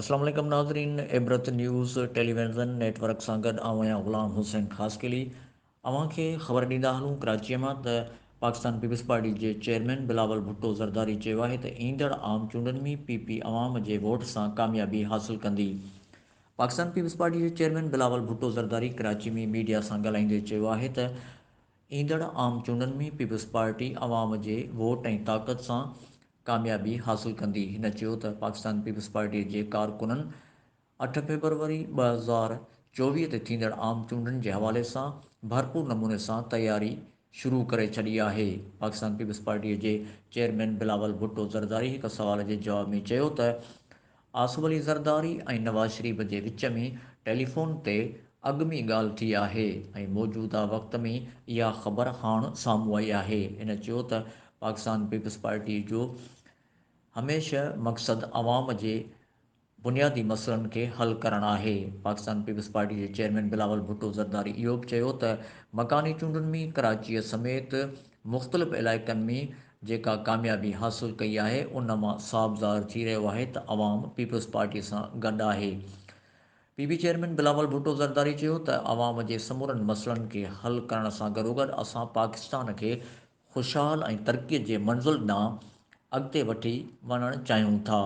السلام عليڪم ناظرين Ibrat news television network سان گڏ آئون آهيان غلام حسين خاصخيلي اوهان کي خبر ڏيندا هلون ڪراچي مان ته پاڪستان پيپلز پارٽي جي چيئرمين بلاول ڀٽو زرداري چيو آهي ته ايندڙ عام چونڊن ۾ پي پي عوام جي ووٽ سان ڪاميابي حاصل ڪندي پاڪستان پيپلز پارٽي جي چيئرمين بلاول ڀٽو زرداري ڪراچي ۾ ميڊيا سان ڳالهائيندي چيو آهي ته ايندڙ عام چونڊن ۾ پيپلز پارٽي عوام جي ووٽ ۽ طاقت سان ڪاميابي حاصل ڪندي. هن چيو ته پاڪستان پيپلز پارٽي جي ڪارڪنن اٺ فيبروري ٻه هزار چوويهه تي ٿيندڙ عام چونڊن جي حوالي سان ڀرپور نموني سان تياري شروع ڪري ڇڏي آهي. پاڪستان پيپلز پارٽيء جي چيئرمين بلاول ڀٽو زرداري هڪ سوال جي جواب ۾ چيو ته آصف علي زرداري ۽ نواز شريف جي وچ ۾ ٽيليفون تي اڳ ۾ ڳالهه ٿي آهي ۽ موجوده وقت ۾ اها خبر هاڻ سامهون آئي آهي. هن چيو ته پاڪستان پيپلز پارٽيء جو هميشه مقصد عوام جي بنيادي مسئلن کي حل ڪرڻ آهي. پاڪستان پيپلز پارٽي جي چيئرمين بلاول ڀٽو زرداري اهو به چيو ته مڪاني چونڊن ۾ ڪراچيء سميت مختلف علائقن ۾ جيڪا ڪاميابي حاصل ڪئي آهي ان مان صاف ظاهر ٿي رهيو آهي ته عوام پيپلز پارٽي سان گڏ آهي. P P chairman Bilawal Bhutto Zardari چيو ته عوام جي سمورن مسئلن کي حل ڪرڻ سان گڏوگڏ اسان پاڪستان کي خوشحال ۽ ترقيء جي منزل ڏانهن اڳتي وٺي وڃڻ چاهيون ٿا.